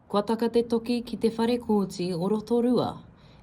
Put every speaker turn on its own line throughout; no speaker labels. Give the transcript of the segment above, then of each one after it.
Kua taka te toki ki te whare kōti o Rotorua.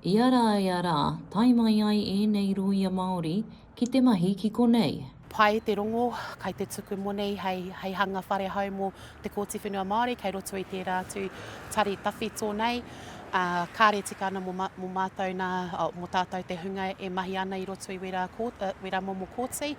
Ia rā ia rā, tae mai ai ēnei rōia Māori ki te mahi ki konei. Pai te rongo,
kai te tuku monei hei, hei hanga whare hou mō te Kōti Whenua Māori kei roto i tērā atu tari tawhito nei. Ā, kāre tika ana mō, mō mātou nā, mō tātou te hunga e mahi ana i roto i wērā, wērā momo kōti.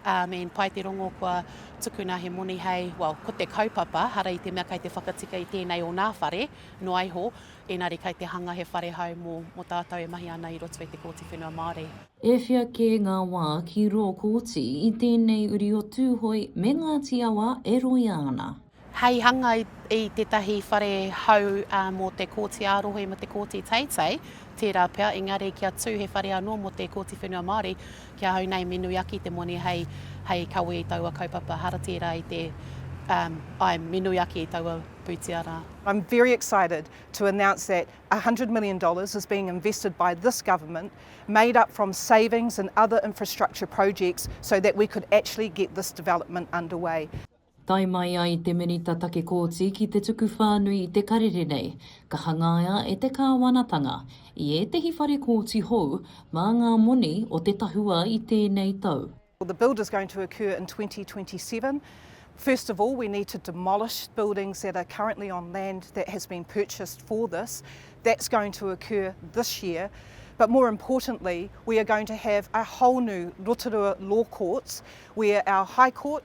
I mean, pai te rongo kua tukuna he moni hei, well, ko te kaupapa, hara i te mea kei te whakatika i tēnei o nā whare, noa iho, ēnari kei te hanga he whare hou mō, mō tātou e mahi ana i roto i te Kōti Whenua Māori. E whia kē
ngā wā ki rō kōti i tēnei uri o Tūhoe me Ngāti Awa e roia ana. hei hanga
i tētahi whare hou mō te Kōti ā-Rohe me te Kōti Teitei, tērā pea, engari kia tū he whare anō mō te Kōti Whenua Māori, ki ahau nei me nui ake te moni hei, hei kawe i taua kaupapa, hara tērā i te, um, āe, me nui ake i taua pūtea rā. I'm very
excited to announce that one hundred million dollars is being invested by this government, made up from savings and other infrastructure projects, so that we could actually get this development underway. Tae mai
ai te Minita Take Kooti ki te tuku whānui i te karere nei, ka hangaia e te Kāwanatanga, i ētehi whare kōti hou, mā ngā moni o te tahua i tēnei tau. Well the build is going to
occur in twenty twenty seven. First of all we need to demolish buildings that are currently on land that has been purchased for this. That's going to occur this year. But more importantly we are going to have a whole new Rotorua Law Courts where our High Court,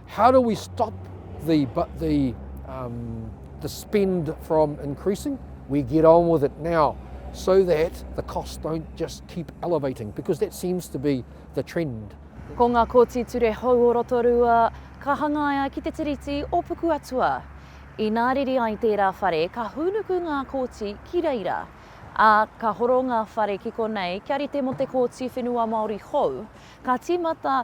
How do we stop the, but the, um, the spend from increasing? We get on with it now so that the costs don't just keep elevating because that seems to be the trend. Ko ngā kōti
ture hou o Rotorua ka hangaia ki te tiriti o Pukuatua. Inā riri ai tērā whare ka hūnuku ngā kōti ki reira, ā, ka horo ngā whare ki konei kia rite mō te Kōti Whenua Māori hou, ka tīmata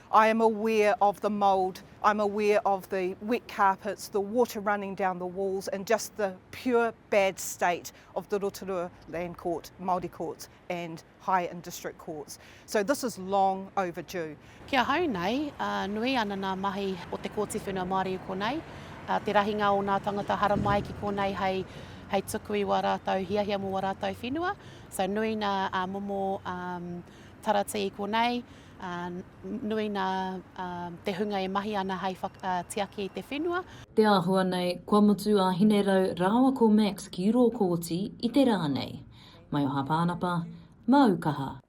I am aware
of the mould, I am aware of the wet carpets, the water running down the walls and just the pure bad state of the Rotorua Land Court, Māori Courts and High and District Courts. So this is long overdue. Ki ahau nei,
nui ana ngā mahi o te Kōti Whenua Māori i konei, te rahinga o ngā tangata haramai ki konei hei hei tuku i wā rātou hiahia mō wā rātou whenua, so nui ngā momo taratī i konei. Ā, nui nā te hunga e mahi ana hai whakatiaki i te whenua. Te āhua nei,
kua mutu a Hinerau rāua ko Max ki rō kōti i te rā nei. Mai o Hāpānapa, māu kaha.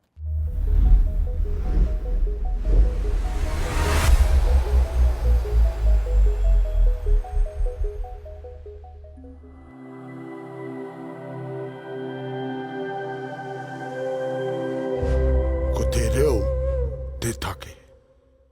Ko te reo te take.